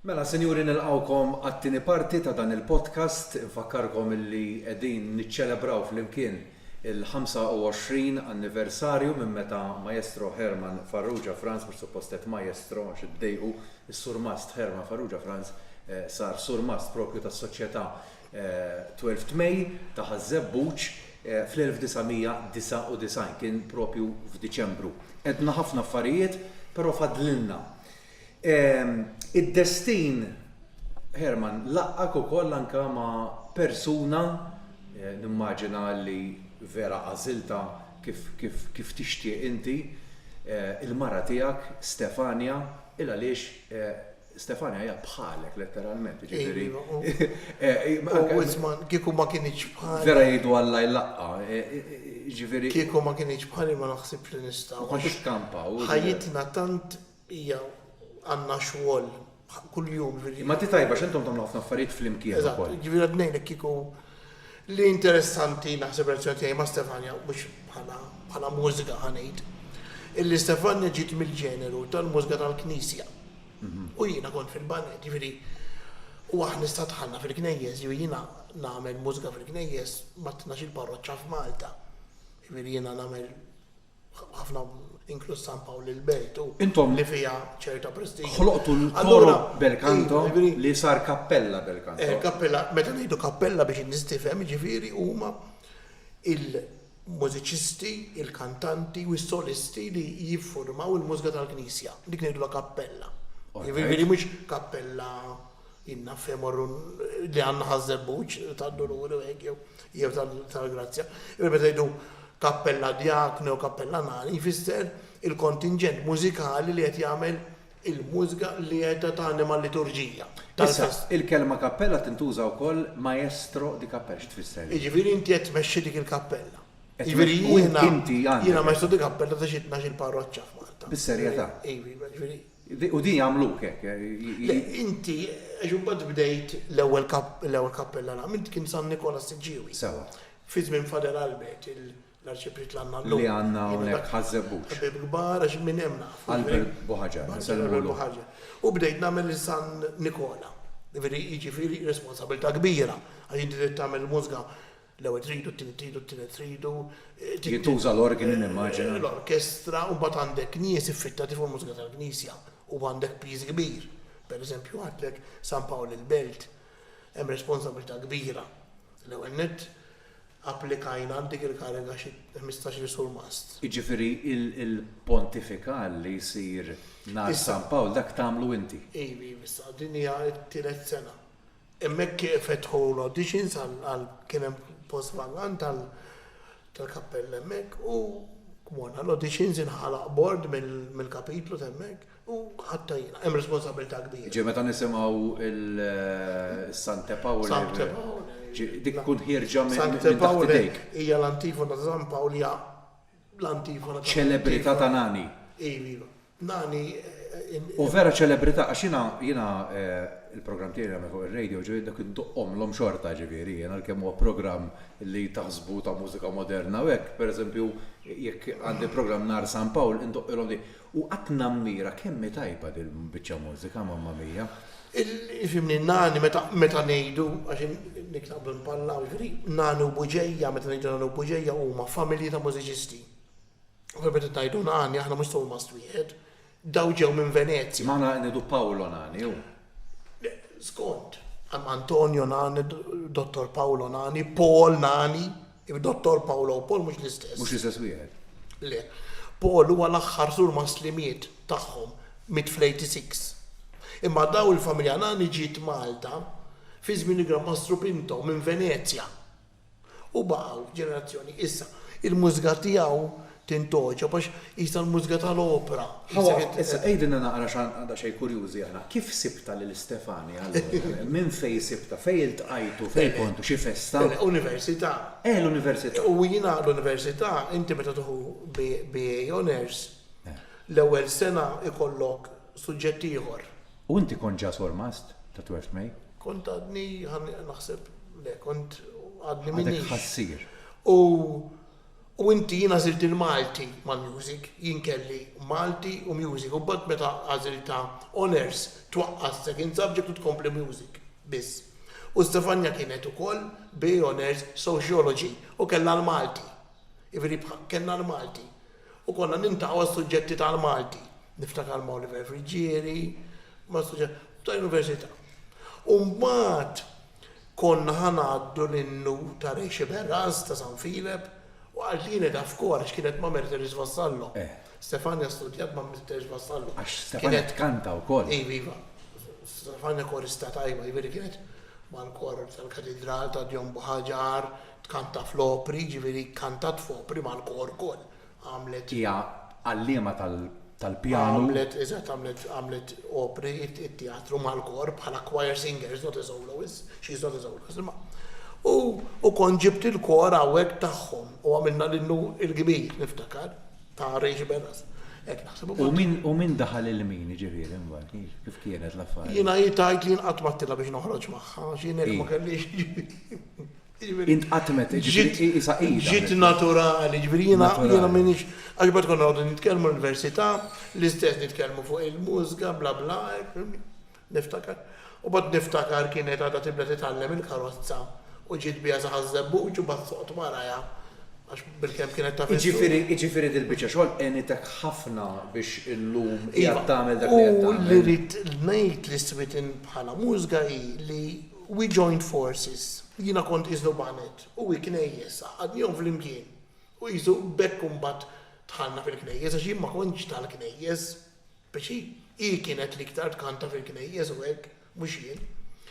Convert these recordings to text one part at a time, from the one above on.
Mela, sinjuri nilqgħukom għat-tieni parti ta' dan il-podcast. Infakkarkom illi qegħdin niċċelebraw flimkien il-25 anniversarju minn meta Maestro Herman Farrugia Franz, mhux suppost għedt Maestro għax iddejqu, is-Surmast Herman Farrugia Franz sar Surmast propju tas-Soċjetà Twelfth May ta' Ħaż-Żebbuġ fl-1999, kien propju f'Diċembru. Għedna ħafna affarijiet, però fadlilna. Id-destin, Herman, laqqgħek ukoll anke ma' persuna, nimmaġina li vera għażiltha kif tixtieq inti, il-mara tiegħek, Stefania, il-għaliex Stefania hija bħalek letteralment, jiġifieri. U Witzman kieku ma kienx bħal. Vera jgħidu Alla jlaqqa, jiġifieri. Kieku ma kienx bħali ma naħsibx li nista'. Ma kontux kampaw. Ħajjitna tant hija għandna xogħol kuljum. Imma inti tajba x'intom tagħmlu ħafna affarijiet flimkien ukoll. Eżatt, jiġifieri qed ngħidlek kieku. Li interessanti naħseb relazzjoni tiegħi ma' Stefania, mhux bħala bħala mużika ħa ngħid, illi Stefania ġiet mill-ġeneru tal-mużika tal-knisja. U jiena kont fil-baned, jiġifieri u aħna issa dħalna fil-knejjes, jiġifieri jiena nagħmel mużika fil-knejjes mat-tnax-il parroċċa f'Malta. Jiġifieri jiena nagħmel Ħafna inkluż San Pawl il-Belt u Intom li fiha ċerta prestigju. Ħloqtu l-Coro bel Canto li sar Kappella bel Canto. Kappella, meta ngħidu kappella biex in-nies tifhem, jiġifieri huma il-mużiċisti, il-kantanti u s-solisti li jiffurmaw il-mużika tal-Knisja. Dik ngħidulha kappella. Jiġifieri mhux kappella. Inna fejn morru li għandna ħaż-żebbuġ tad-duluri u hekk jew jew tal-grazzja. Imma meta jgħidu kappella djaknu jew kappella nani jfisser il-kontinġent mużikali li qed jagħmel il-mużga li qiegħda tanima l-liturġija tal-festa. Issa, il-kelma kappella tintuża wkoll maestro di cappella. Xi tfisser din? Jiġifieri inti qed tmexxi dik il-kappella. Jiġifieri jiena jiena maestro di cappella ta' xi tnax-il parroċċa f'Malta. Bis-serjetà? Iva, jiġifieri. U din jagħmluk hekk. Le, inti, għax imbagħad bdejt l-ewwel kappella nagħmel, int kien San Nikola Siġġiewi. Sewwa. Fi żmien Fader Albert, l-Arċipriet li għandna llum. Li għandna hawnhekk Ħaż-Żebbuġ. Ħbieb kbar għax minn hemm nafu. Albert Buħaġar, insellmu lilhom. U bdejt nagħmel lil San Nikola. Jiġifieri responsabbiltà kbira għax inti trid tagħmel il-mużga L-ewwel tridu, t-tieni tridu, t-tielet tridu. Jintuża l-organi nimmaġina. L-orkestra u mbagħad għandek nies iffittati fuq il-mużika tal-knisja u għandek piż kbir. Per eżempju għidlek San Pawl il-Belt hemm responsabilità kbira. L-ewwel nett applikajna għal dik il-kariga xi ħmistax-il surmast. Jiġifieri l-pontifikal li jsir nhar San Pawl dak tagħmlu inti? Iv, iv issa din hija t-tielet sena. Hemmhekk fetħu l-auditions għal kien hemm post vagan tal-kappella hemmhekk u morna l-auditions inħalaq bord mill-kapitlu t'hemmhekk u ħadtha jiena. Hemm responsabbiltà kbira. Ġie meta nisimgħu s-Sancte Paule. Sancte Paule. Dik tkun ħierġa minn taħt idejk. Sancte Paule hija l-antifona ta' San Pawl hija l-antifona ta' San Pawl. Ċelebrità ta' Nani. Iva. Nani in. Hu vera ċelebrità għax jiena jiena il-programm tiegħi li nagħmel fuq ir-radio ġifieri dak indoqqhomlhom xorta ġifieri jien għalkemm huwa programm li taħsbu ta' mużika moderna u hekk pereżempju jekk għandi programm nhar San Pawl indoqqilhom di u qatt nammira kemm hi tajba din il-biċċa mużika mamma mia. Fhimni Nani meta meta ngħidu għax niktabu inpallaw ġifieri Nani u Buġeja meta ngħidu Nani u Buġeja huma familji ta' mużiċisti. Kif qed ngħidu Nani, aħna mhux Thomas wieħed. Dawn ġew minn Venezja. M'aħna qed ngħidu Paolo Nani, hu. Le, skont. Hemm Antonio Nani, Dottor Paolo Nani, Paul Nani. Dottor Paolo u Paul mhux l-istess. Mhux l-istess wieħed. Le. Paul huwa l-aħħar surmast li miet tagħhom, miet fl-86. Imma dawn il-familja Nani ġiet Malta fi żmien il-Gran Mastru Pinto minn Venezja. U baqgħu ġenerazzjoni. Issa, il-mużika tiegħu tintgħoġob għax qisha l-mużika tal-opra. Ħa, issa għidilna naqra għax għandna daqsxejn kurjużi aħna, kif sibtha lil Stefani allura? Minn fejn sibtha? Fejn iltqajtu? Fejn kontu? Xi festa? Università. Eh, l-università. U jiena l-università, inti meta tieħu BA Honours, l-ewwel sena jkollok suġġett ieħor. U inti kont ġa sormast ta' Twelfth May? Kont għadni, naħseb, le, kont għadni minix. Għadek ħassier. U, u inti, jien għażilt il-Malti mal-music, jien kelli Malti u music, u mbagħad meta għażilt ta' honours twaqqa' s-second subject u tkompli music biss. U Stefania kienet ukoll bi honours sociology u kellha l-Malti. Jiġifieri kellna l-Malti. U konna niltaqgħu għas-suġġetti tal-Malti, niftakar ma' Oliver Friggieri, ma' suġġetti ta' università. U mbagħad konna ħa ngħaddu l-innu ta' Rexeverance ta' San Filep u għal din qiegħda f'kor għax kienet ma' Mercedes Vassallo. Stefania studjat ma' Mercedes Vassallo. Għax Stefania tkanta wkoll. Iva, iva. Stefania korista tajba, jiġifieri kienet mal-kor tal-Katidral ta' Djon Buħaġar, Tkanta fl-opri, jiġifieri kkantat f'opri mal-kor ukoll. Għamlet. Hija għalliema tal-pjanu. Għamlet, eżatt, għamlet, għamlet opri, it-teatru mal-kor bħala choir singer, she's not a soloist, she's not a soloist, imma. U, u kont ġibt il-kor hawnhekk tagħhom u għamilna l-innu l-kbir, niftakar, ta' Rachel Bellas. Hekk naħseb u. U min, u min daħal il-min, jiġifieri, imbagħad, kif, kif kienet l-affarijiet? Jiena hi tgħid li jien qatt m'għadtilha biex noħroġ magħha, għax jien hekk ma kellix. Intqatmet, jiġifieri hi qisha hi daħlet. Ġiet naturali, jiġifieri jiena m'iniex, għax imbagħad konna noqogħdu nitkellmu l-università, l-istess nitkellmu fuq il-mużga, bla bla, niftakar. U mbagħad niftakar kienet għadha tibda titgħallem il-karozza u ġiet biha sa ħaż-Żebbuġ u mbagħad soqgħod warajha għax bilkemm kienet taf is-suq. Jiġifieri dil-biċċa xogħol għenitek ħafna biex illum qiegħed tagħmel dak li qed tagħmel. U li rrid ngħid li s-switien bħala mużga hi li, We joined forces. Jiena kont qiesnu banet u hi knejjes, għaqqadnihom flimkien. U qisu b'hekk imbagħad dħalna fil-knejjes għax jien ma kontx tal-knejjes. Biex hi, hi kienet li iktar tkanta fil-knejjes u hekk, mhux jien.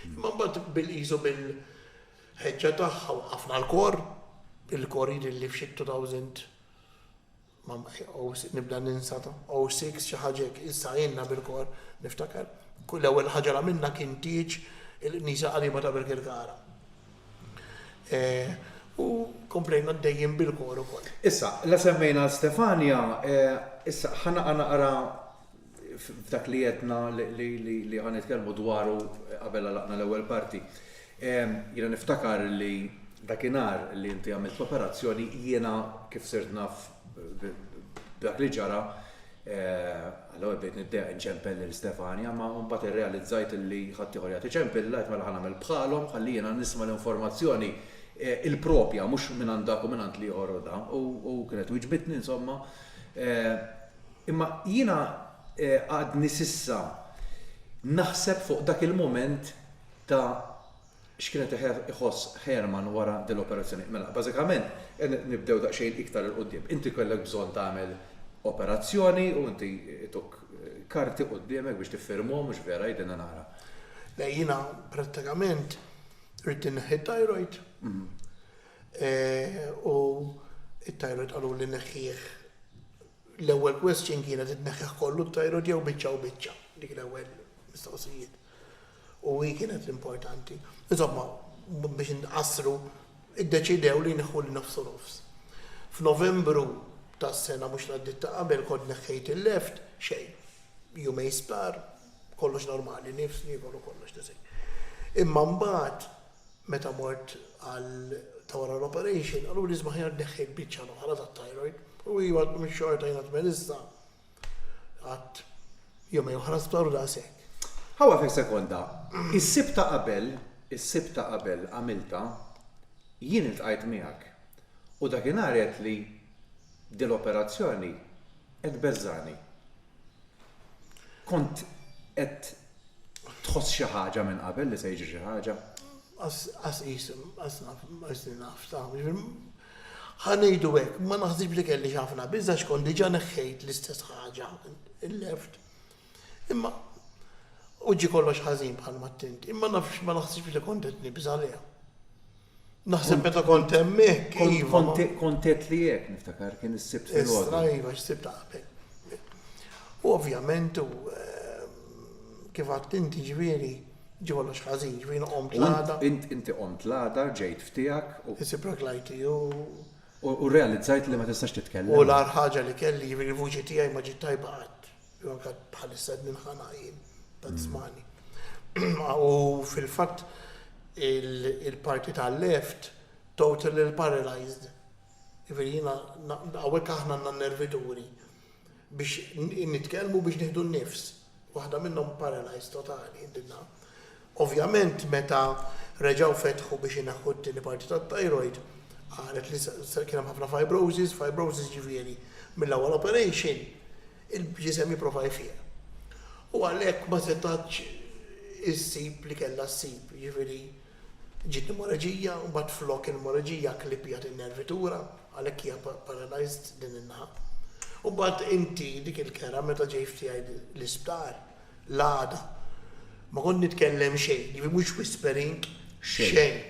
Imma mbagħad bil qisu bil, ħeġġa tagħha waqqafna l-kor, il-kor jidhirli f'xi two thousand, Nibda ninsa ta' O Six, xi ħaġa hekk, issa għinna bil-kor, niftakar. L-ewwel ħaġa li għamilna kien tieġ il-knisja qariba ta' Birkirkara. U komplejna għaddejjin bil-kor ukoll. Issa, la semmejna Stefania, issa ħa naqa' naqra f'dak li għedna li ħa nitkellmu dwaru qabel għalaqna l-ewwel parti. Jiena niftakar li dakinhar li inti għamilt l-operazzjoni jiena kif sirt naf dak li ġara għal-ewwel bdejt niddeq nċempel lil Stefania, ma mbagħad irrealizzajt li ħadd ieħor jagħti ċempilla qed mela ħanagħmel bħalhom ħalli jiena nisma' l-informazzjoni il-propja mhux minn għandak u minn għand li ieħor u dan u kienet wiġbitni insomma Imma jiena għadni s'issa naħseb fuq dak il-mument ta' x'kienet iħoss Herman wara din l-operazzjoni. Mela, bażikament, nibdew daqsxejn iktar 'il quddiem. Inti kellek bżonn tagħmel operazzjoni u inti ituk karti quddiemek biex tiffirmhom, mhux vera? Għidilna naqra. Le, jiena prattikament ridt inneħħi t-thyroid u t-thyroid qaluli neħħih L-ewwel question kienet tneħħih kollu t-tajrot jew biċċa u biċċa. Dik l-ewwel mistoqsijiet. U hi kienet l-importanti. Insomma, biex inqassru, iddeċidew li jneħħu li nofs u nofs. F'Novembru tas-sena mhux l-għaddiet ta' qabel kont neħħejt il-left, xejn. Jumejn sptar, kollox normali, nifs, niekol u kollox, tisgħin. Imma mbagħad Meta mort għal ta' wara l-operation, qaluli isma' aħjar tneħħi l-biċċa l-oħra tat-thyroid. U iva, għad mhix xorta jiena tmien issa. Qgħadt jumejn oħra sptar u daqshekk. Ħa waqfek sekonda. Is-Sibt ta' qabel, is-Sibt ta' qabel għamiltha, jien iltqajt miegħek. U dakinhar għedtli, 'Din l-operazzjoni qed tbeżżagħni. Kont qed tħoss xi ħaġa minn qabel li se jiġri xi ħaġa? Qas qis, qas naf, qas naf, ħanejdu hekk, ma naħsibx li kelli xafna biża xkont diġà neħħejt l-istess ħaġa il-left. Imma u ġi kollox ħażin bħal ma tint, imma nafx ma naħsibx li kont qed nibża' Naħseb meta kont hemm hekk, iva. Kont għedt li hekk, niftakar, kien is-Sibt filgħodu. Istra, iva, x-Sibt ta' qabel. U ovvjament, kif għedt inti, ġifieri, ġie kollox ħażin, ġifieri nqomt l-għada. Inti qommt l-għada, rġejt f'tiegħek u. Is-siprak l-IT u. U rrealizzajt li ma tistax titkellem. U l-agħar ħaġa li kelli, ġifieri l-vuċi tiegħi ma ġiet tajba qatt. Jew anke bħalissa qed ninħana jien ta' tzmani. U fil-fatt il-parti tal-left totally paralyzed. Jifieri jiena hawnhekk aħna għandna nervi duri biex nitkellmu biex nieħdu n-nifs. Waħda minnhom paralyzed totali, Ovvjament meta reġgħu fetħu biex ineħħu t-tieni parti tat-thyroid, qalet li kien hemm ħafna fibrosis, fibrosis jiġifieri mill-ewwel operation il-ġisem jipprova jfiq. U għalhekk ma setgħetx issib li kellha ssib, jiġifieri ġiet pneumoleġija u mbagħad flok il-pneumoleġija kklipjat in-nervitura, għalhekk hija paralysed din in-naħa. U mbagħad inti dik il-kera meta ġejt tiegħi l-isptar, l-għada. Ma kont nitkellem xejn, jiġifieri mhux whispering xejn.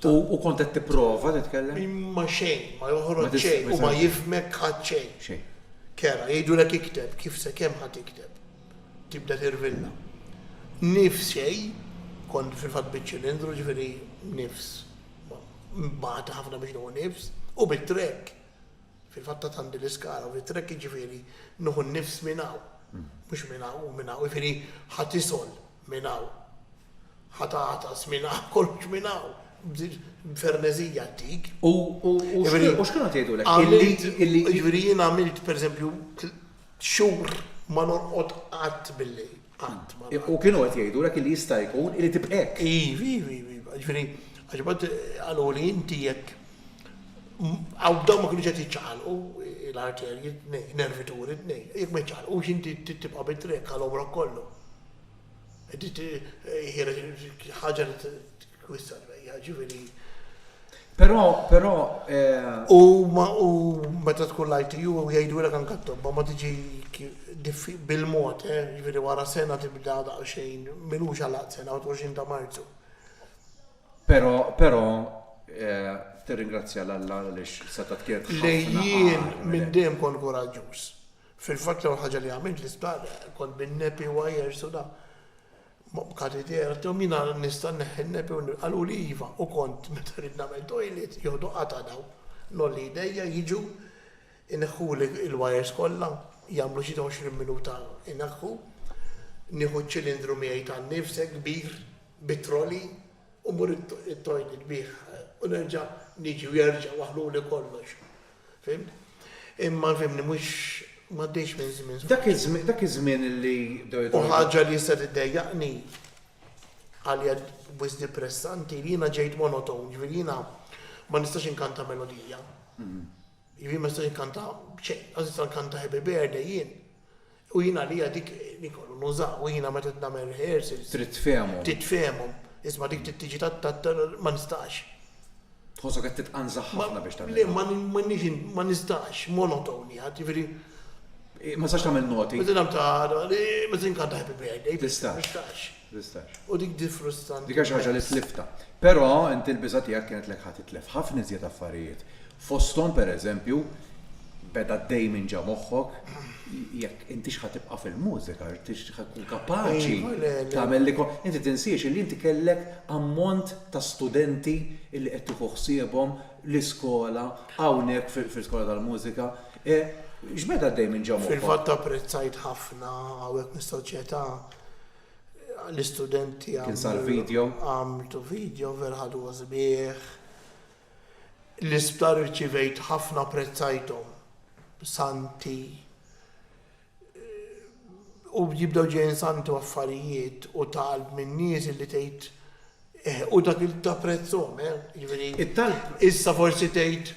U kont qed tipprova titkellem? Imma xejn, ma joħroġ xejn u ma jifmek ħadd xejn. Xejn. Kera, jgħidulek ikteb, kif se kemm ħadd ikteb. Tibda tirvilla. Nifs xejn, kont fil-fatt biċ-ċilindru ġifieri nifs. Mbagħad ħafna biex nieħu nifs u bit-trek. Fil-fatt ta' tant din l-iskala u rit-trekk jiġifieri nieħu n-nifs minn hawn, mhux minn hawn u minn hawn, jiġifieri ħa tisgħol minn hawn, ħa tagħtas minn hawn, kollox minn hawn, b'ferneżija għaddik. U x'kienu qed jgħidulek? Jiġifieri jien għamilt, pereżempju, xhur ma norqod qatt bil-lejl. Qatt ma ra. U kienu qed jgħidulek illi jista' jkun illi tibqa' hekk. Iv, iv, iv, iv. Ġifieri, għax imbagħad qaluli inti jekk hawn dawn ma kinux qed jiċċaqalqu l-arterji t-tnejn, nervi turi t-tnejn. Jekk ma jiċċaqalqux inti trid tibqa' bit-triq għal għomrok kollu. Dik hi ħaġa li Però, però, eh. U ma u meta tkun l-ITU u jgħidulek anke t-tobba ma tiġi bil-mod, eh, jiġifieri wara sena tibda daqsxejn, m'ilux għalaq sena, 21 ta' Marzu. Però, però, eh, tirringrazzja lil Alla għaliex setgħet kienet ħafna. Li jien minn dejjem kont kuraġġuż. Fil-fatt l-ewwel ħaġa li għamilt l-isptar kont bin-nepi wires u da. Katidera, għalthom jiena nista' nneħħi n-nepi u qaluli iva u kont meta rrid nagħmel toilet joħdu qatgħa dawn. Ngħolli jdejja jiġu jneħħuli l-wires kollha, jagħmlu xi għoxrin minuta jneħħu, nieħu ċ-ċilindru miegħi tan-nifse kbir bi trolley u mmur it-toilet bih u nerġa' niġi u jerġgħu waħħluli kollox. Fimt? Imma fimni mhux m'għaddejx minn żmien sħaħ. Dak iż-żmien, dak iż-żmien li bdew jidħlu. U ħaġa li issa tiddejjaqni, għalija wisq depressanti, li jiena ġejt monotone, ġifieri jiena ma nistax inkanta melodija. Jiena ma nistax inkanta b'xejn, lanqas nista' nkanta Happy Birthday jien. U jien għalija dik ikollu nuża, u jiena meta qed nagħmel rehearsals. Trid tfehemhom. Trid tfehemhom. Isma' dik trid tiġi ta' ta' ta' ma nistax. Tħossok qed titqanżaħ ħafna biex tagħmilha. Le, ma m'għandix ma nistax, monotony għad, jiġifieri. Ma tistax tagħmel noti. Meta nagħmel ta' meta ninkanta Happy Birthday. Tistax. Ma nistax. Tistax. U dik di frustranti. Dik hija xi ħaġa li tliftha. Però inti l-biża' tiegħek kienet lek ħa titlef ħafna iżjed affarijiet. Fosthom pereżempju, beda għaddej minn ġa moħħok, jekk intix ħa tibqa' fil-mużika, intix ħa tkun kapaċi tagħmel li inti tinsiex li inti kellek ammont ta' studenti li qed tieħu ħsiebhom l-iskola hawnhekk fil-skola tal-mużika. X'beda għaddej minn ġa moħħok? Fil-fatt apprezzajt ħafna hawnhekk mis-soċjetà l-istudenti Kien sar video? għamltu video vera ħadu gost bih. L-isptar irċivejt ħafna apprezzajthom. Santi u jibdew ġejjin santi u affarijiet u ta' qalb min-nies illi tgħid Eh, u dak il ta' prezzhom, eh, jiġifieri. It-talb. Issa forsi tgħid,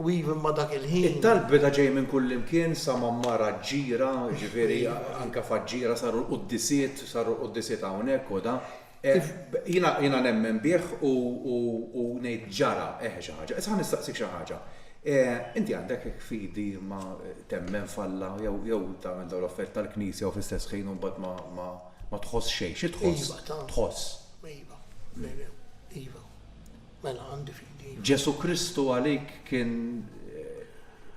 u even ma' dak il-ħin. It-talb beda ġej minn kullimkien sa Mammara Ġġira, jiġifieri anke f'Aġġira saru l-quddisiet, saru l-quddisiet hawnhekk u da. Eh, jiena, jiena nemmen bih u, u, u ngħid ġara, eh, xi ħaġa. Issa ħa nistaqsik xi ħaġa. Eh, inti għandek hekk fidi ma temmen f'Alla jew, jew tagħmel dawn l-affarijiet tal-Knisja u fl-istess ħin u mbagħad ma, ma. Ma tħoss xejn. Xi tħoss? Iva, ta. Tħoss. Iva. Iva. Mela, għandi fidi. Ġesu Kristu għalik kien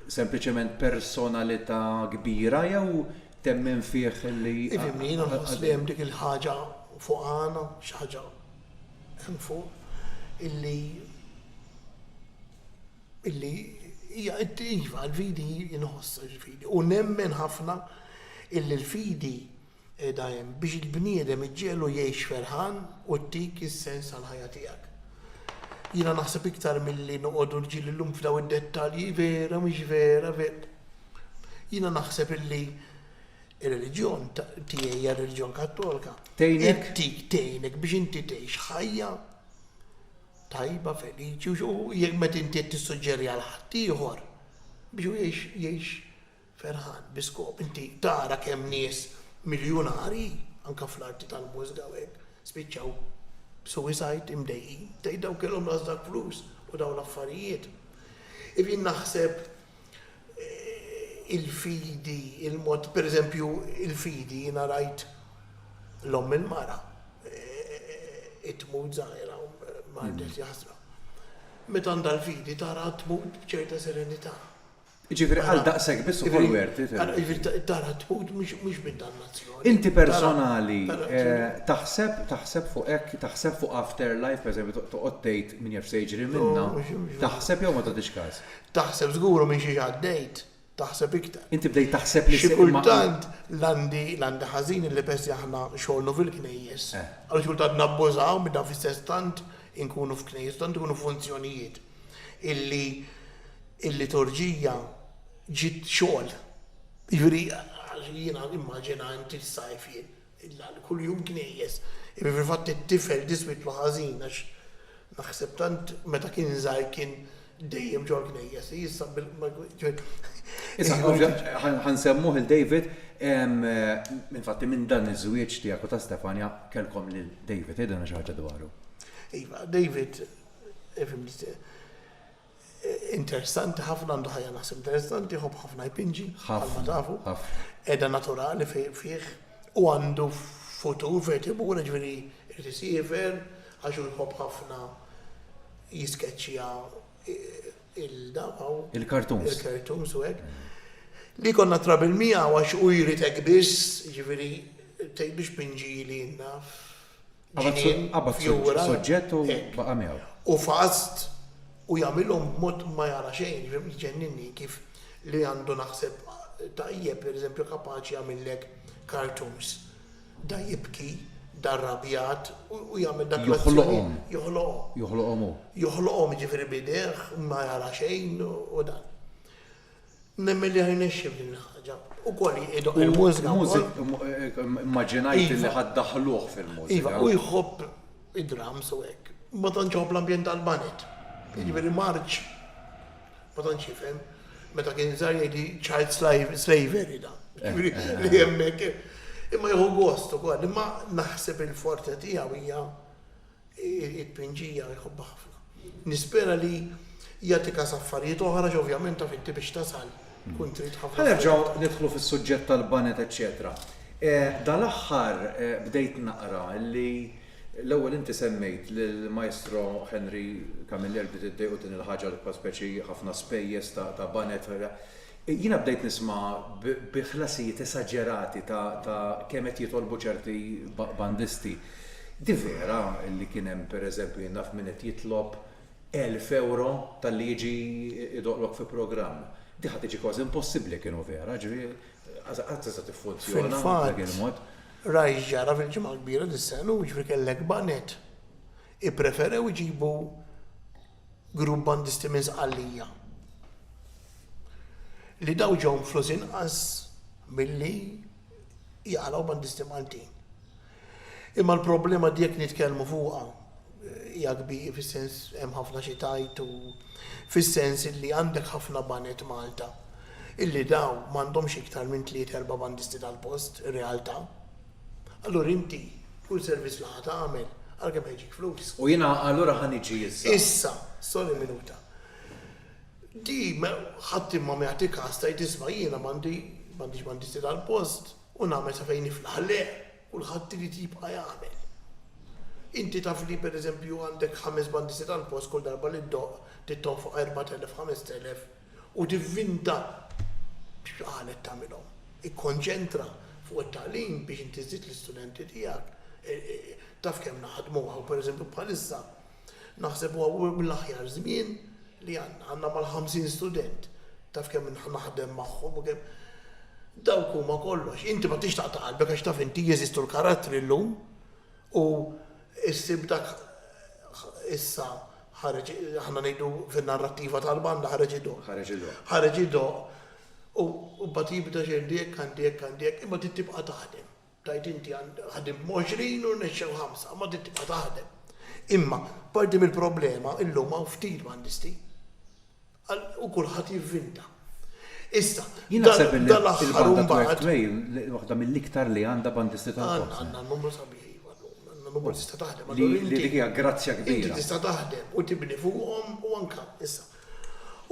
sempliċement personalità kbira jew temmen fih li. Ifimni, jiena nħoss li hemm dik il-ħaġa fuq għana, xi ħaġa hemm fuq, illi illi hija iva l-fidi jinħoss il-fidi. U nemmen ħafna illi l-fidi qiegħda hemm biex il-bniedem iġġegħlu jgħix ferħan u ttik is-sens għall-ħajja tiegħek. Jiena naħseb iktar milli noqogħdu rġiel illum f'daw id-dettalji, vera, mhix vera, ver. Jiena naħseb illi ir-reliġjon tiegħi hija r-reliġjon Kattolka. Tgħinek? Ttik tgħinek biex inti tgħix ħajja tajba, feliċi, u jekk meta inti tissuġġeri għal ħaddieħor biex jgħix Ferħan, Bi skop inti tara kemm nies miljunarji, anke fl-arti tal-mużika u hekk, spiċċaw b'suicide, imdejqin. Tgħid dawn kellhom ras dak flus u dawn l-affarijiet. If jien naħseb il-fidi, il-mod, per eżempju il-fidi jiena rajt l-omm il-mara tmut żgħira u mardet jaħsra. Meta għandha l-fidi taraha tmut b'ċerta serenità. Jiġifieri għal daqshekk biss ukoll wert, ifhem. Jiġifieri tara tmut mhux minn dannazzjoni. Inti personali taħseb taħseb fuq hekk, taħseb fuq after life, pereżempju toqgħod tgħid min jaf x'se jiġri minnha, taħseb jew ma tagħtix każ? Taħseb żgur u minn xiex għaddejt, taħseb iktar. Inti bdejt taħseb li se. Xi kultant l-għandi l-għandi ħażin illi peress li aħna xogħolnu fil-knejjes, għaliex kultant nabbużaw minn dan fis-sess tant inkunu f'knejjes, tant ikunu f'funzjonijiet. illi l-liturġija ġiet xogħol. Jiġifieri jiena nimmaġina inti s-sajf jien kuljum knejjes. Imma fil-fatt it-tifel diswitlu ħażin għax naħseb tant meta kien żgħir kien dejjem ġol-knejjes. Issa Ħa nsemmuh lil David, infatti minn dan iż-żwieġ tiegħek u ta' Stefania kellkom lil David, għidilna xi ħaġa dwaru. Iva, David Interessanti ħafna għandu ħajja naħseb interessanti, jħobb ħafna jpinġi, bħalma tafu. Edha naturali fih u għandu futur fejn imur ġifieri jrid isiefer għax hu jħobb ħafna jiskeċċja il-dabaw. Il-kartuns. Il-kartuns u hekk. Li konna trabil miegħu għax u jrid hekk biss, ġifieri tgħidux pinġi li naf ġnien, fjura, hekk. Hu fast u jagħmilhom b'mod ma jara xejn, jġenninni kif li għandu naħseb tajjeb, per eżempju kapaċi jagħmillek cartoons, da jibki, da rrabjat u jagħmel dak l-azzjonijiet, joħloqhom. Joħloqhom hu. Joħloqhom jiġifieri b'idejh ma jara xejn u dan. Nemmen li ħajnexxi f'din il-ħaġa. Ukoll idoqq il-mużika wkoll. Immaġinajt li ħa ddaħħluh fil-mużika. Iva, hu jħobb id-drums u hekk. Ma tantx iħobb l-ambjent tal-baned. Jiġifieri m'għarfx, ma tantx jifhem. Meta kien żgħir jgħidli child slavery dan. Jiġifieri li hemmhekk. Imma jieħu gost ukoll. Imma naħseb il-forte tiegħu hija Irid pinġija, jħobbha ħafna. Nispera li jagħti każ affarijiet oħra għax ovvjament taf inti biex tasal tkun trid ħafna affarijiet. Ħa nerġgħu nidħlu fis-suġġett tal-baned eċċetera. Dal-aħħar bdejt naqra li l-ewwel inti semmejt lill-Maestro Henry Camilleri bdiet iddejqu din il-ħaġa li bħal speċi ħafna spejjeż ta' baned. Jiena bdejt nisma' bi ħlasijiet esaġerati ta' kemm qed jitolbu ċerti bandisti. Di vera li kien hemm pereżempju jien naf min qed jitlob elf ewro talli jiġi jdoqlok fi programm. Di ħa tiġi kważi impossibbli jekk inhu vera, ġifieri qatt tista' tiffunzjona b'dak il-mod. Fil-fatt, rajt x'ġara fil-Ġimgħa l-Kbira dis-sena ilu, jiġifieri kellek baned ippreferew iġibu Grupp bandisti minn Sqallija li dawn ġew mfluż inqas milli jaqalgħu bandisti Maltin. Imma l-problema di jekk nitkellmu fuqha hija kbir fis-sens hemm ħafna xi tgħid u fis-sens illi għandek ħafna baned Malta illi dawn m'għandhomx iktar minn tlieta erba' bandisti tal-post, realtà. Allura inti, kull servizz li ħa tagħmel, għalkemm ħa jġik flus. U jiena allura ħa niġi issa. Issa, sorry minuta. Di ħadd imma ma jagħti każ tgħid isma' jiena m'għandi m'għandix m'għandix tal-post u nagħmel sa fejn niflaħ. Le, kulħadd irid jibqa' jagħmel. Inti taf li pereżempju għandek ħames banditi tal-post kull darba li ddoqq trid tonfoq 4,000, 5,000. u tivvinta x'qalet tagħmilhom. Ikkonċentra fuq it-tagħlim biex inti żżid l-istudenti tiegħek. Taf kemm naħdmu hawn pereżempju bħalissa naħseb huwa mill-aħjar żmien li għandna. Għandna mal-50 student. Taf kemm naħdem magħhom u kemm dawk huma kollox. Inti ma tix taqta' qalbek għax taf inti jeżistu l-karattri llum. U ssib dak issa ħareġ aħna ngħidu fin-narrattiva tal-banda ħareġ idoqq. Ħareġ idoqq. Ħareġ idoqq u mbagħad jibda xejn għandi hekk, għandi hekk, għandi hekk, imma trid tibqa' taħdem. Tgħid inti ħdimt b'għoxrin u rnexxew ħamsa, imma trid tibqa' taħdem. Imma parti mill-problema illum hawn ftit bandisti. Għal u kulħadd jivvinta. Issa, Jien naħseb li dan l-aħħar il-banda imbagħad. Twerk Trail li waħda mill-iktar li għandha bandisti tal-Forza. Għandna, għandna n-numru sabiħ, iva, għandna n-numru tista' taħdem. Li, li dik hija grazzja kbira. Inti tista' taħdem u tibni fuqhom u anke, issa.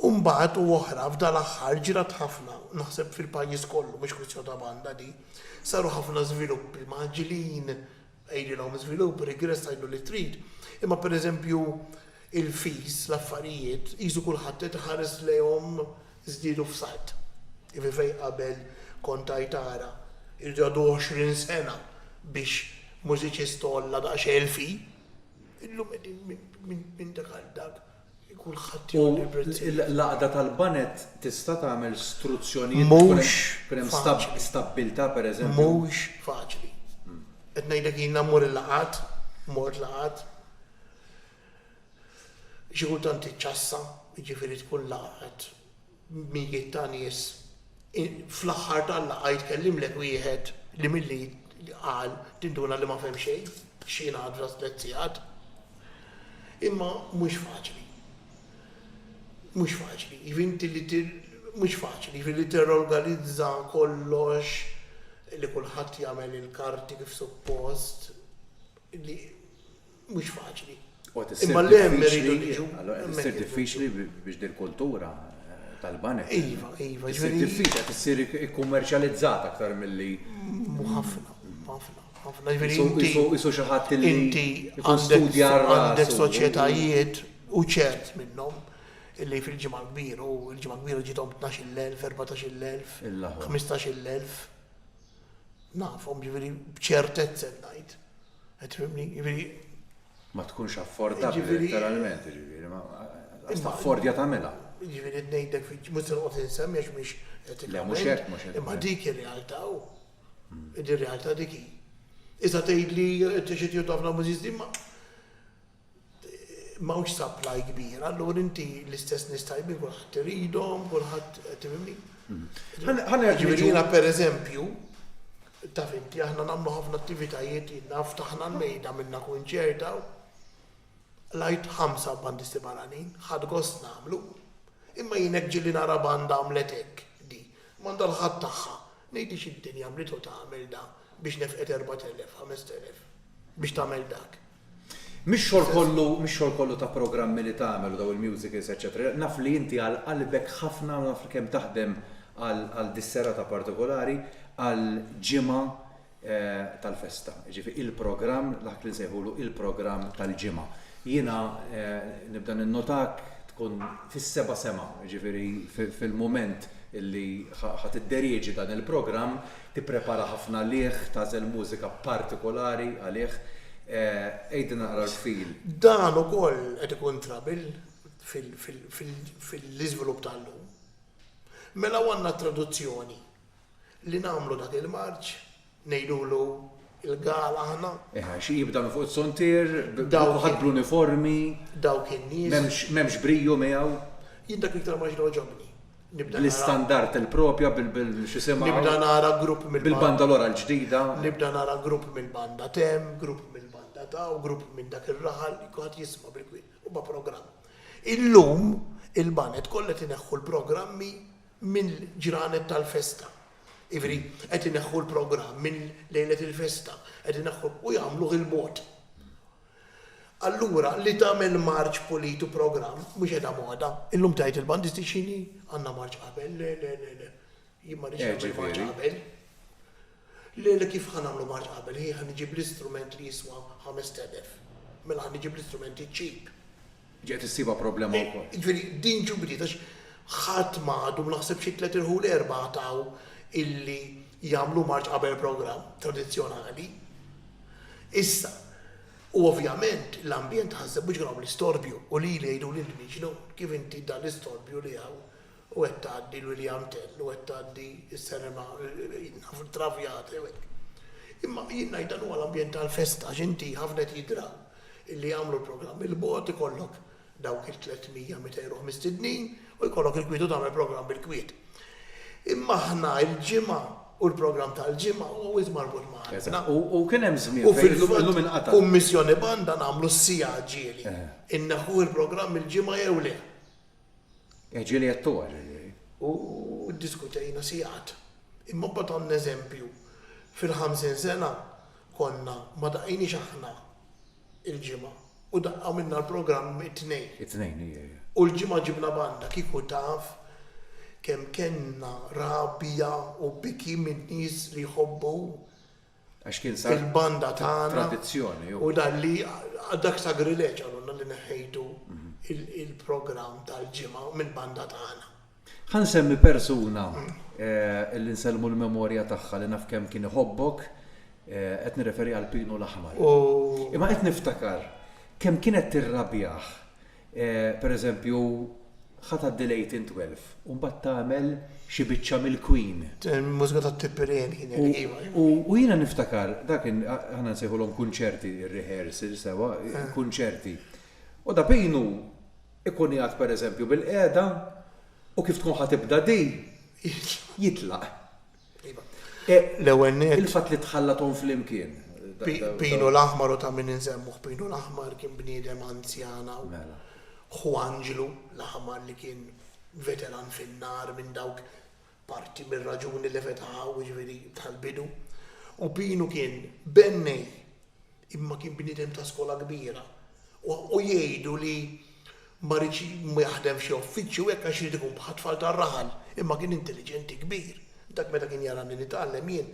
U mbagħad u oħra f'dan l-aħħar ġrat ħafna, naħseb fil-pajjiż kollu, mhix kwistjoni ta' banda din, saru ħafna żviluppi mgħaġġlin Għidilhom żvilupp, rigress għidlu li trid, imma pereżempju il-fees, l-affarijiet, qisu kulħadd qed iħares lejhom żdiedu f'sajt. Jiġifieri fejn qabel kont tgħid ara, irid jgħaddu għoxrin sena biex mużiċist għolla daqsxejn il-fee, illum qegħdin minn dak għal dak u l-għaqda tal-banet tista' tagħmel struzzjonijiet biex ikun hemm stabbiltà, pereżempju? Mhux faċli. Qed ngħidlek jiena mmur il-laqgħat, mort laqgħat, xi kultant tiċċassa, jiġifieri tkun laqgħat mijiet ta' nies, fl-aħħar tal-laqgħa jitkellimlek wieħed li milli qal tinduna li ma fehem xejn x'jingħad f'tliet sigħat. Imma mhux faċli. Mhux faċli. Inti li mhux faċli, li tirrorganizza kollox li kulħadd jagħmel il-karti kif suppost li mhux faċli. Imma le hemm irridu niġu. Allura qed issir diffiċli biex din il-kultura tal-banek. Iva, iva, ġifieri. Diffiċli qed issir ikkummerċjalizzata aktar milli. Mhu ħafna, ħafna, ħafna. Ġifieri inti. Isu xi ħadd li. Inti għandek soċjetajiet u ċert minnhom illi fil-ġimgħa kbir u l-ġimgħa kbira ġiethom 12,000, 14,000, 15,000. Nafhom, jiġifieri b'ċertezza qed ngħid. Qed tifhimni? Jiġifieri. Ma tkunx affordabbli letteralment, jiġifieri ma għax taffordja tagħmilha. Jiġifieri qed ngħidlek fi mhux se noqgħod insemmi għax mhix etikament. Le mhux hekk, mhux hekk. Imma dik ir-realtà hu. Din ir-realtà dik hi. Issa tgħidli inti xi tieħu ħafna miżiż din ma M'hawnx supply kbir, allura inti l-istess nies tajbin kulħadd iridhom, kulħadd qed tifhimni? Jiġifieri jiena pereżempju, taf inti aħna nagħmlu ħafna attivitajiet, jiena ftaħna l-mejda għamilna kunċert hawn, l-Għid ħamsa bandisti barranin, ħadt gost nagħmlu. Imma jien hekk ġieli nara banda għamlet hekk di, m'għandha l-ħadd tagħha. Ngħidlix id-dinja għamlitu tagħmel dan biex nefqet erbat elef, ħamest elef biex tagħmel dak. Mhix xogħol kollu, mhix xogħol kollu ta' programmi li tagħmel u dawn il-musicals eċċetera. Naf li inti għal qalbek ħafna u naf li kemm taħdem għal dis-serata partikolari għal ġimgħa tal-festa. Jiġifieri il-programm, dak li nsejħulu il-programm tal-ġimgħa. Jiena nibda ninnotak tkun fis-seba' sema, jiġifieri fil-mument li ħa tidderieġi dan il-programm, Tipprepara ħafna għalih, tagħżel mużika partikolari għalih. Għidilna naqra l-fil. Dan ukoll qed ikun trouble fil-iżvilupp tal-lum. Mela hawn għandna traduzzjoni li nagħmlu dak il-marċ, ngħidulu l-gala aħna. Eħe, għax jibda minn fuq is-sontier, ħadd bl-uniformi. Dawk in-nies. M'hemmx brio miegħu. Jien dak iktar ma jogħġobni. bl-istandard il-proprja bil-x'isimha. Nibda nara grupp mill-banda. Bil-banda l-ora l-ġdida. Nibda nara grupp mill-banda t'hemm, grupp mill-banda ta' u grupp minn dak ir-raħal li kulħadd jisma' bil-kwiet. Huma programm. Illum il-baned kollha qed ineħħu l-programmi mill-ġranet tal-festa. Jiġifieri qed ineħħu l-programm minn lejlet il-festa, qed ineħħu u jagħmluh il-mod. Allura, li tagħmel marċ pulit u programm, mhux qiegħda moda. Illum tgħid il-bandisti x'inhi? Għandna marċ qabel. Le, le, le, le. Jien ma rridx nagħmel marċ qabel. Le, le, kif ħa nagħmlu marċ qabel? Hi, ħa niġib l-istrument li jiswa ħamest elef. Mela ħa niġib l-istrumenti cheap. Ġejt issibha problema wkoll. Jiġifieri din ġiet bdiet għax ħadd ma għadu, naħseb xi tliet irħul erbgħa għataw illi jagħmlu marċ qabel programm tradizzjonali. Issa, u ovvjament l-ambjent ħaseb biex kien hawn l-istorbju u lili jgħiduli lil Niġi Nun, kif inti dan l-istorbju li hawn? u qed tgħaddi l-William Tell u qed tgħaddi s-Serena Traviata u hekk. Imma jien ngħid dan huwa l-ambjent tal-festa għax inti ħafna qed jidhra li jagħmlu l-programm il-bogħod ikollok dawk il-300 meta jruh mistednin u jkollok il-kwiet u tagħmel programm bil-kwiet. Imma aħna l-Ġimgħa u l-programm tal-Ġimgħa huwa wisq marbut ma' qalbna. U kien hemm żmien fejn illum inqata'. Kummissjoni banda nagħmlu s-siegħa ġieli. Inneħħuh il-programm il-Ġimgħa jew le? Ġieli qed togħġ, jiġifieri. U ddiskutejna sigħat. Imma mbagħad għandna eżempju, fil-ħamsin sena konna ma daqqejniex aħna il-Ġimgħa u daqqa minna l-programm it-Tnejn. It-Tnejn, ija, ija. U l-Ġimgħa ġibna banda, kieku taf kemm kellna rabja u biki min-nies li jħobbu Għax kien sar. Il-banda tagħna. Tradizzjoni hu. U dan li dak sagrileġġ qalulna li neħħejtu il-programm tal-ġimgħa mill-banda tagħna. Ħa nsemmi persuna li nsellmu l-memorja tagħha li naf kemm kien iħobbok, qed nirreferi għal Pinu l-Aħmar. Imma qed niftakar kemm kienet tirrabjah. Per eżempju, ħa tgħaddi l-1812 u mbagħad tagħmel xi biċċa mill-Queen. Il-mużika tat-Tipperary kienet iva. U jiena niftakar, dak kien, aħna nsejħulhom kunċerti, rehearsal sewwa, kunċerti. U Da Pino jkun qiegħed per eżempju bil-qiegħda u kif tkun ħa tibda di, jitlaq. Il-fatt li tħallathom flimkien. Pinu l-Aħmar u ta' min insemmuh Pinu l-Aħmar kien bniedem anzjan hawn. Ħu Anġlu l-Aħmar li kien veteran fin-nar minn dawk parti mir-raġuni li fetaħ hawn jiġifieri tal-bidu. U Pinu kien bennej. Imma kien bniedem ta' skola kbira. U jgħidu li ma riedx jaħdem f'xi uffiċċju hekk għax ried ikun bħat-tfal tar-raħal. Imma kien intelliġenti kbir. Dak meta kien jarani nitgħallem jien,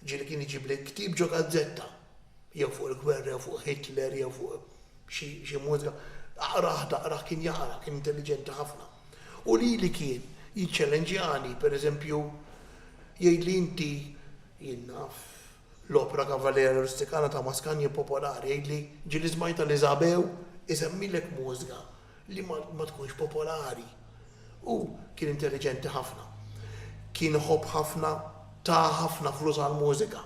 ġieli kien iġibli l-ktieb ġo gazzetta, jew fuq il-gwerra jew fuq Hitler jew fuq xi mużika, aqrah daqrah kien jaqra, kien intelliġenti ħafna. U lili kien jiċċelenġjani, pereżempju, jgħidli inti, jien naf, L-opra Cavaliere Rusticana ta' Mascagni hi popolari, għidli, ġieli smajtha li Zabew isemmilek mużga li ma tkunx popolari. Hu kien intelliġenti ħafna. Kien iħobb ħafna, ta ħafna flus għall-mużika.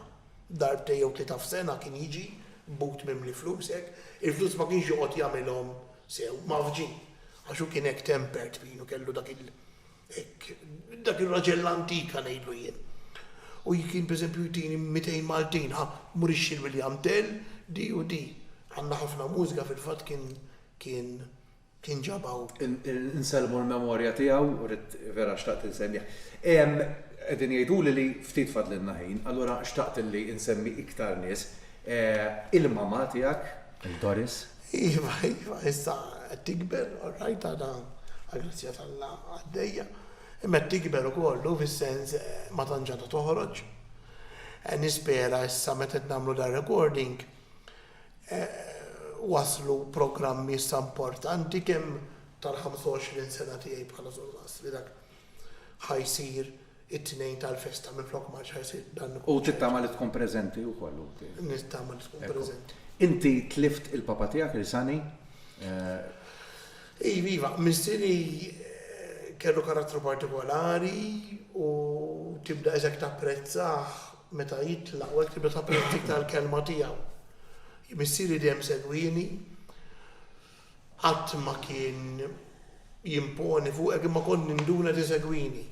Darbtejn jew tlieta f'sena kien jiġi b'but mimli flus hekk. Il-flus ma kienx joqgħod jagħmilhom sew, mgħaffġin, għax hu kien hekk tempered, pieno, kellu dak il. Hekk, dak ir-raġel l-antika ngħidlu jien. U kien pereżempju jtini mitejn Maltin, ha, mur ixxir William Tell, di u di. Għandna ħafna mużika fil-fatt kien kien kien ġabha hu. Insellmu l-memorja tiegħu, ridt vera xtaqt insemmih. Qegħdin jgħiduli li ftit fadlilna ħin, allura xtaqt li insemmi iktar nies. Il-mamà tiegħek, il-Doris. Iva, iva, issa qed tikber, all right, għadha għall-grazzja t'Alla għaddejja, imma qed tikber ukoll u fis-sens ma tantx għadha toħroġ. Nispera issa meta qed nagħmlu dar-recording waslu programmi issa importanti kemm tal-25 sena tiegħi bħala surmast li dak ħa jsir It-Tnejn tal-Festa minflok ma għadx ħa jsir dan il-kunċert. U tittama li tkun preżenti wkoll inti? Nittama li tkun preżenti. Inti tlift il-papa tiegħek Risani? Iva, iva. Missieri kellu karattru partikolari u tibda iżjed tapprezzah meta jitlaq u hekk tibda tapprezza iktar l-kelma tiegħu. Missieri dejjem segwieni Qatt ma kien jimponi fuqek imma kont ninduna li tisegwini.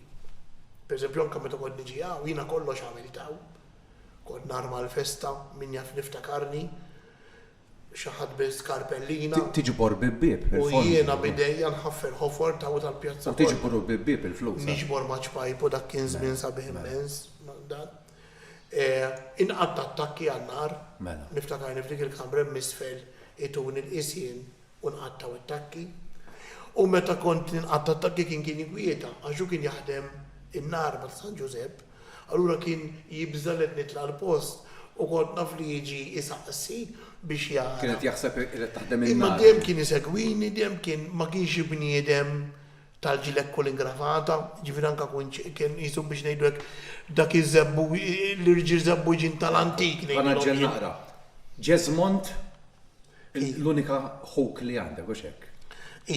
Per eżempju anke meta kont niġi hawn, jiena kollox għamilt hawn. Kont narma l-festa, min jaf niftakarni, xi ħadd biss skarpellina. Tiġbor bib-bieb il-fondi. U jiena b'idejja nħaffer ħofor t'hawn tal-pjazza kollha. U tiġbru bib-bieb il-flus. Niġbor maċ-ċpajpu dak kien żmien sabiħ immens dan. Inqatt' attakki għan-nar. Mela. Niftakarni f'dik il-kamra hemm isfel ituni nqis jien u nqattgħu attakki. U meta kont ninqatta' attakki kien kien inkwieta għax hu kien jaħdem in-nar ma' San Ġużepp. Allura kien jibża' li qed nitla' l-post u kont naf li jiġi jsaqsi biex jara. Kien qed jaħseb li qed taħdem in-nar. Imma dejjem kien isegwini, dejjem kien ma kienx bniedem tal-ġiled kull ingravata, jiġifieri anke kun kien qisu biex ngħidu hekk dak iż-żebbu, l-irġiel żebbuġin tal-antik ngħidilhom jien. Tanaġġel naqra. Jesmond l-unika ħuk li għandek, hux hekk?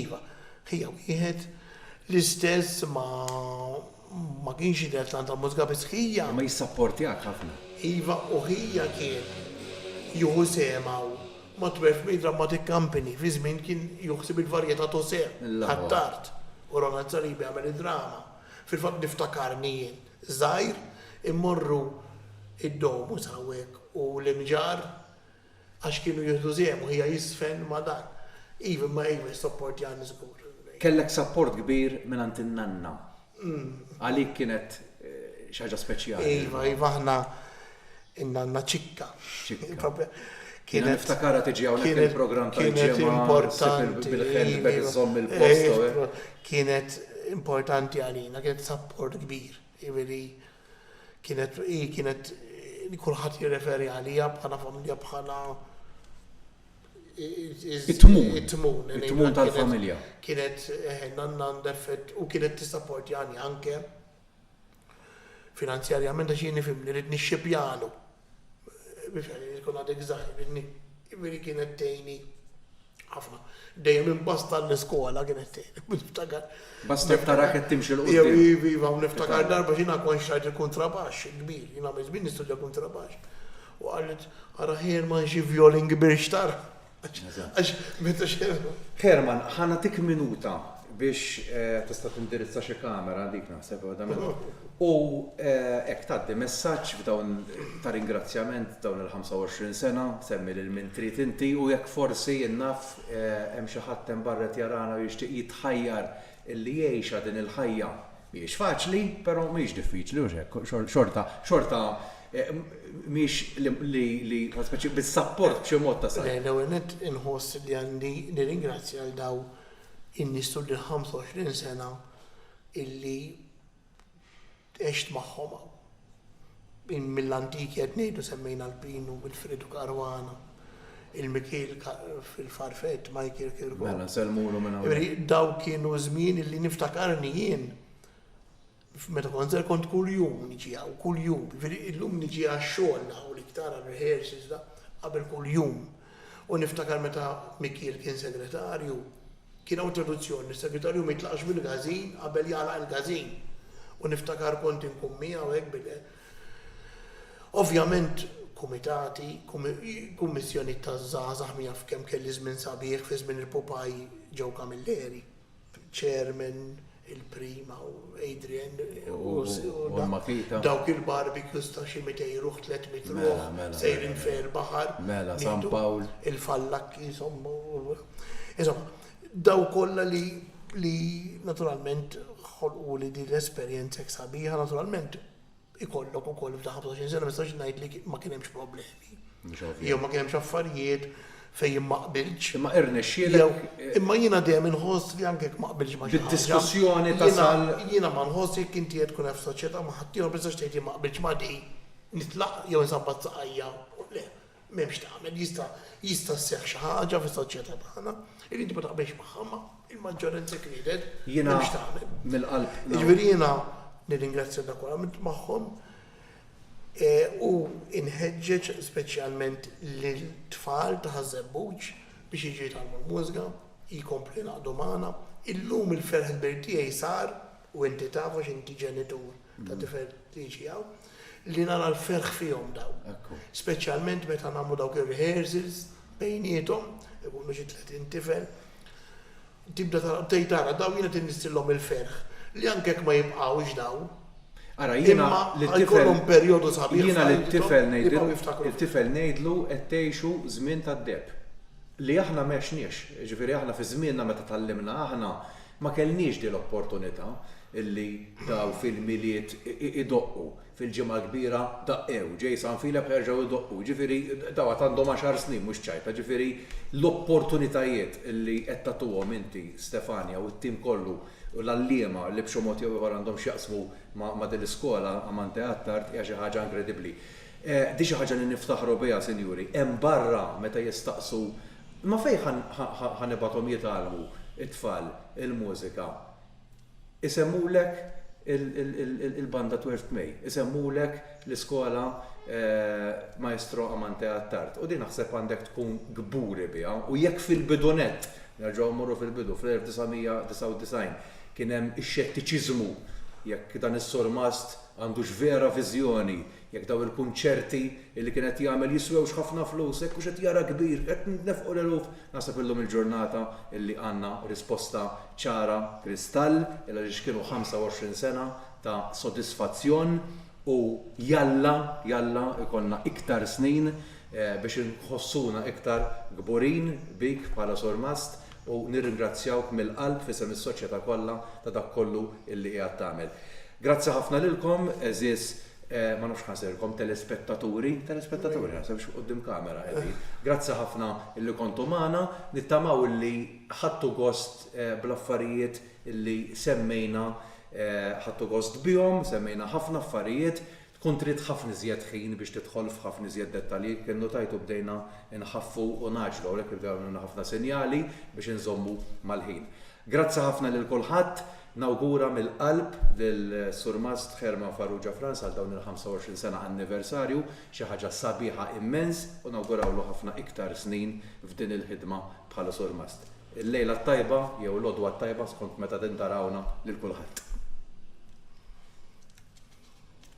Iva. Ħija wieħed, l-istess ma'. Ma kienx jidher tant għall-mużika biss ħija. Imma jissapportjak ħafna. Iva u ħija kien jieħu sehem hawn. Ma' Twelfthmay Dramatic Company fi żmien kien jieħu ħsieb il-varjetà to se. Attard. U Ronald Saliba jagħmel id-drama. Fil-fatt niftakarni jien żgħir immorru id-Domus hawnhekk u l-Imġarr. Għax kienu jieħdu sehem u hija jiżfen ma' dan. Iva, imma hi mhix sapport Jan żgur. Kellek sapport kbir mingħand in-nanna. Għalik kienet xi ħaġa speċjali. Iva, iva aħna in-nanna Ċikka. Ċikka. Jiena niftakarha tiġi hawnhekk il-programm tal-ġimgħa ssib bil-handbag iżżomm il-post. Kienet importanti għalina, kienet sapport kbir. Jiġifieri Kienet, hi kienet li kulħadd jirreferi għaliha bħala familja bħala it-tmun. It-tmun. It-tmun tal-familja. Kienet eh, nanna għandha effett u kienet tissapportjani anke finanzjarjament għax jien nifhem li rid nixxipjalu. Mhux għaliex inkun għadek żgħir minni. Jiġifieri kienet tgħinni ħafna. Dejjem imbasta l-iskola kienet tgħinni. Niftakar. Bastet tarak qed timxi l quddiem. Iva, iva, niftakar darba x'jiena kont xtrajt il-kuntrabaxx il-kbir, jien għamilt kbir nistudja kuntrabaxx. U qalet, ara Herman xi vjolin kbir xtara. Għax meta xerħu. Herman, ħa nagħtik minuta biex tista' tindirizza xi kamera, dik naħseb waħda minnhom. U hekk tgħaddi messaġġ f'dawn ta' ringrazzjament dawn il-25 sena, semmi lil min trid inti u jekk forsi, jien naf, hemm xi ħadd hemm barra qed jarana u jixtieq jitħajjar Illi jgħixha din il-ħajja. Mhijiex faċli, però mhijiex diffiċli, hux hekk? Xorta, xorta mhijiex li, li, speċi bis-sapport b'xi mod ta' sal. L-ewwel nett inħoss li għandi nirringrazzja lil daw in-nies tul il-25 sena illi Għext magħhom hawn. Min mill-antik qed ngħidu semmejna l-Pinu, Wilfredu Caruana, il-Mikiel fil-Farfett, Michael Kirkop. Mela, nsellmulu minn hawn. Jiġifieri dawk kienu żmien illi niftakarni jien meta kont żgħir kont kuljum niġi hawn, kuljum. Jiġifieri illum niġi għax-xogħol hawn iktar għar-rehearsals da, qabel kuljum. U niftakar meta Mikiel kien segretarju, kien hawn traduzzjoni li s-segretarju ma jitlaqx mill-każin qabel jagħlaq il-każin. U niftakar kont inkun miegħu hekk bil. Ovvjament kumitati, kummissjonijiet taż-żgħażagħ min jaf kemm kelli żmien sabiħ fi żmien il-pupaj Joe Camilleri, chairman, il-Prima u Adrian u dawk il-barbecues ta' xi 200 ruħ, 300 ruħ, sejrin fejn il-baħar, il-fallakki insomma. Insomma, dawk kollha li naturalment ħolquli din l-esperjenza hekk sabiħa, naturalment, ikollok ukoll f'dawn 25 sena ma nistax ngħid li ma kien hemmx problemi. Jew ma kien hemmx affarijiet fejn jien ma qbiltx. Imma irnexxielek. Imma jiena dejjem inħoss li anke jekk ma qbiltx ma' xi ħaġa. Bid-diskussjoni tasal. Jiena ma nħoss jekk inti qed tkun qed f'soċjetà ma' ħaddieħor ma tistax tgħid jien ma qbiltx ma' din, nitlaq jew insabbat saqajja. Le, M'hemm x'tagħmel, jista' jista' sseħħ xi ħaġa fis-soċjetà tagħna li inti ma taqbilx magħha, imma l-maġġoranza hekk ridet, m'hemm x'tagħmel. Jiena mill-qalb. Jiġifieri jiena nirringrazzja dak kollha għamilt magħhom u nħeġġeġ speċjalment lit-tfal ta' Ħaż-Żebbuġ biex jiġu jitgħallmu l-mużga, jkomplu jingħaqdu magħna. Illum il-ferħ kbir tiegħi sar, u inti taf għax inti ġenitur ta' tifel tiġi hawn, li nara l-ferħ fihom dawn. Speċjalment meta nagħmlu dawk ir-rehearsals bejniethom, ikunu xi tletin tifel, tibda tara, bdejt tara, dawn jiena qed innissillhom il-ferħ li anke jekk ma jibqgħux dawn. Ara jiena lil-tifel. Ikollhom perjodu sabiħ. Jiena lil-tifel ngħidilhom, il-tifel ngħidlu qed tgħixu żmien tad-deheb. Li aħna m'għexniex. Jiġifieri aħna fi żmienna meta tgħallimna aħna, Ma kellniex din l-opportunità li dawn fil-Milied idoqqu, fil-Ġimgħa l-Kbira daqqew, ġej San Filep ħerġgħu jdoqqu, jiġifieri dawn għad għandhom għaxar snin mhux ċajta, jiġifieri l-opportunitajiet li qed tagħtuhom inti Stefania u t-tim kollu u l-għalliema li b'xi mod jew ieħor għandhom x'jaqsmu ma' din l-iskola Amante Attard hija xi ħaġa inkredibbli. Din xi ħaġa li niftaħru biha sinjuri, hemm barra meta jistaqsu Imma fejn ħa nibgħathom jitgħallmu t-tfal il-mużika? Isemmulek il-Banda Twelfth May, isemmulek l-iskola Maestro Amante Attard u din naħseb għandek tkun kburi biha u jekk fil-bidunett, nerġgħu mmorru fil-bidu, fl-1999, kien hemm ix-xettiċiżmu jekk dan is-surmast għandux vera viżjoni Jekk dawn il-kunċerti li kien qed jagħmel jiswewx ħafna flus, hekk hux qed jara kbir, qed nitnefqu l-eluf. Naħseb illum il-ġurnata li għandna risposta ċara kristall, il-għaliex kienu 25 sena ta' sodisfazzjon u jalla, jalla jkollna iktar snin biex inħossuna iktar kburin bik bħala Surmast u nirringrazzjawk mill-qalb f'isem is-Soċjeta kollha ta' dak kollu li qiegħed tagħmel. Grazzi ħafna lilkom għeżież ma nafx ħansirkom telespettaturi, telespettaturi naħseb mhux quddiem kamera qegħdin. Grazzi ħafna illi kontu magħna, nittamaw illi ħadtu gost bl-affarijiet illi semmejna, ħadtu gost bihom, semmejna ħafna affarijiet, Tkun trid ħafna iżjed ħin biex tidħol f'ħafna iżjed dettalji, kien notajt u bdejna nħaffu u ngħaġġlu, hawnhekk irdu jagħmluna ħafna sinjali biex inżommu mal-ħin. Grazzi ħafna lil kulħadd, nawgura mill-qalb lil Surmast Herman Farrugia Frans għal dawn il-25 sena anniversarju, xi ħaġa sabiħa immens u nawgurawlu ħafna iktar snin f'din il-ħidma bħala Surmast. Il-lejla t-tajba jew l-għodwa t-tajba skont meta tintarawna lil kulħadd.